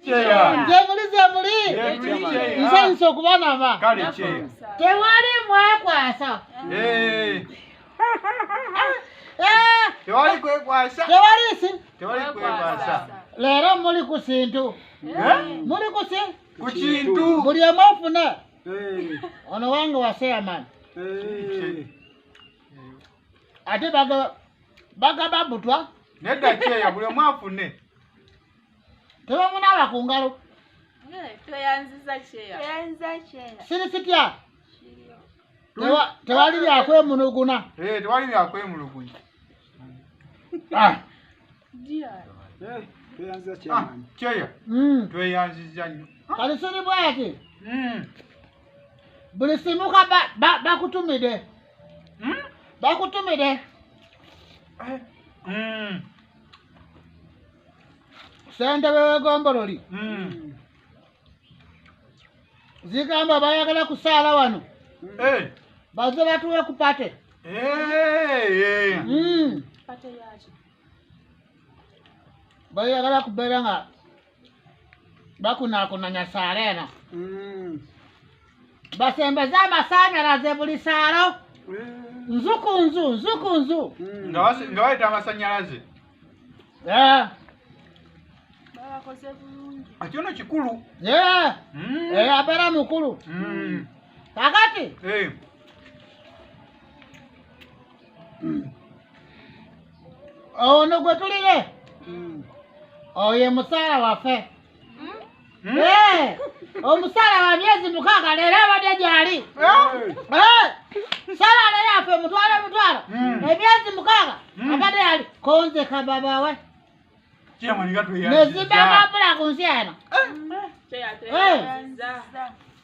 gyemuli gyemuli nsanyusa okubanaba tewali mwekwasa leero muli ku sintu muli kukintu buli omu afune ono wange waseyamani ate bagaba butwa nedda kyeya buli omu afune tebamunaaba ku ngalo siri sitya tewali byakwemuluguna tewali byakwemulugunya kyeya tweyanziza nyo kati siri bwati hmm. buli simuka bakutumide hmm? bakutumide eh, hmm. ssentebe w'egombololi Mm. zigamba bayagala kusaala wano Eh. baze batuwe ku pate Eh, eh. Mm. Pate yaki? bayagala kubeera nga bakunakunanya saala eno Mm. basembeze amasannyalaze buli saalo Mm. nzu ku nzu nzu ku nzu Mm. nga basi- nga bayita amasannyalaze Eh, babakoze bulungi ekyono kikulu eh, Mm. eh, abeera mukulu Mm. kakati Eh. hmm. ono gwe tulire hmm. oyo musaala waffe hmm? eh, omusaala wa myezi mukaaga leero abadde gyali eh, salaale yaffe mutwalo mutwalo emyezi mukaaga abadde yali konzeka babawe nezimba mabula ku nsi eno eh.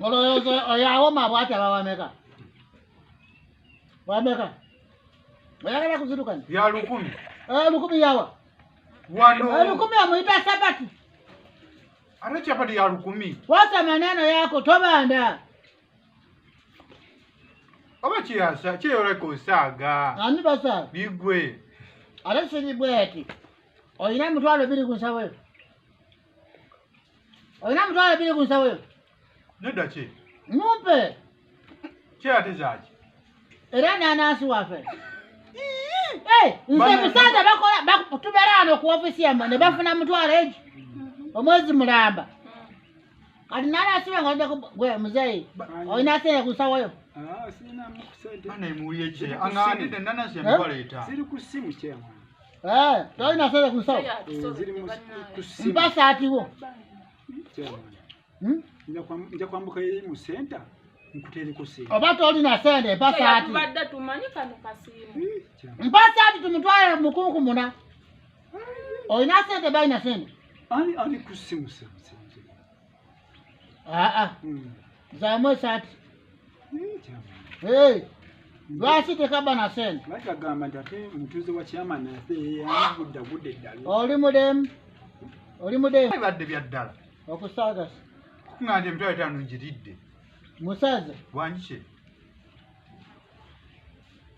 olowooza oyo awoma bwati aba wameka wameka oyagala kuzirukana ya lukumi eh, lukumi yawa wano eh, lukumi amuyita sabati ate chapati ya lukumi wasa maneno yako tobanda oba kiyasa kyeyoleka osaaga ani basaaga bigwe ate sibigwe ati olina emitwalo biri ku nsawo eyo olina mutwalo biri ku nsawo yo nedda ki mumpe kyeyate zaki era nanansi waffe nze musaza tubera ano ku ofisi yamwe ne bafuna mutwalo egi omwezi mulamba kati nanansi wange odde gwe muzeyi olina sente ku nsawo yo ah, siri ku simu kyemwa Eh, tolina sente ku nsawo mpa saati wo Hmm? nja kwambuka eri mu senta nkutereko sente oba tolina sente mpa saati tubadde tumanyi kano kasiimu Hmm, mpa saati tumutwale mukunkumuna olina sente balina sente ani ani kusimusa aa zamu esati Hey, lwaki tekaba na sente lwaki agamba nti ate mutuuze wa kyamani ate yeyamugudda gudde eddala oli mudemu oli mudemu bibadde bya ddala okusagasa kung'anda emitwalo etaano ngiridde musaze wanjike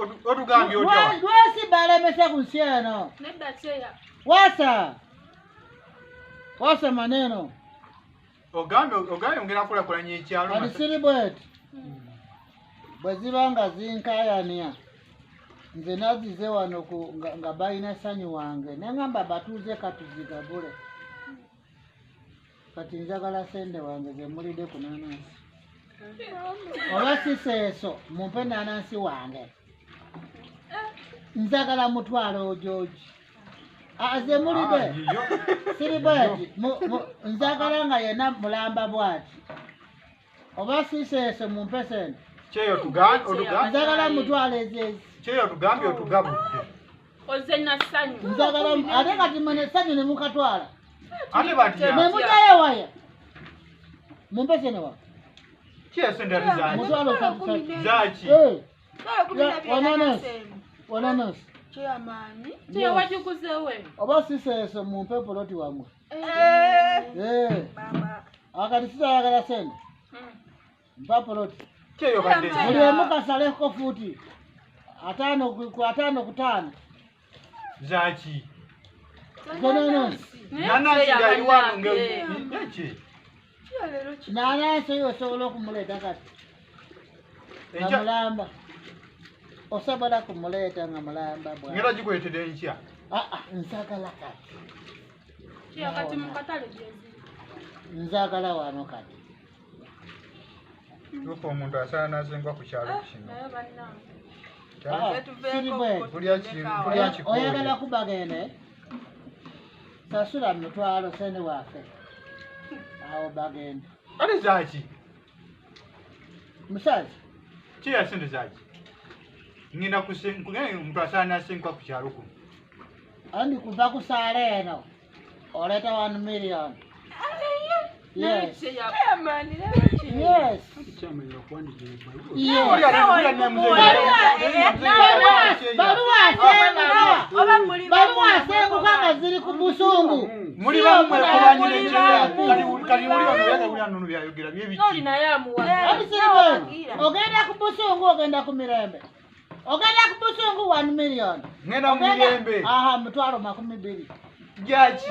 Odu- odugambye otya Wa- wano? lwesi balemesa ku nsi eno Nedda cheya. wasa wasa maneno ogambye ogambye ongera kulakulanya ekyalo kati siri bweti bwe ziba nga zinkayania nze nazize wano ku- nga- nga balina sanyu wange nengamba batuuze katuzigagule kati njagala sente wange zemulide ku nanansi oba siseeso mumpe nanansi wange njagala mutwalo ojoji azemulide ah, ah, siri bwati njagala nga yena mulamba bwati oba siseese mumpe sente kyeyo tuga- otuga- njagala mutwala ezeezi kyeyo tugambye otugabudde oze nasanyu njagala ate kati mwe nesanyu nemukatwala ate batya nemujayo waya mumpe sente wa kyesente ate zaki mutwala osatu zaki wananasi kyeyamaanyi teyawajukuzewe oba siseese mumpe poloti wamwe Eh, Eh, baba. akati sitayagala sente Mm. mpa poloti Kyeyo badde. Mama. buli omu kasaleko fuuti ataano ku- ku ataano ku taano Zaki. Zenanonsi Nana sigayiwa nge. Naki. nalaasa yo osobola okumuleeta kati nga mulamba osobola kumuleeta nga mulamba bwera gikuletede nkya ah, ah, nsagala kati nzagala wano kati tuka omuntu asala nazengwa ku kyalo ah, kino oyagala kubagene sasula mutwalo sene wafe awo bagenda kale zaki musazi kiya sente zaki ngenda omuntu asaana asenkwa ku kyalo kuno andi kuva ku saala eno oleeta one million Yes. baluwa asenguka nga ziri ku busungu muli ogenda ku busungu ogenda ku mirembe ogenda ku busungu 1 million ogenda aha mutwalo makumi biri jaki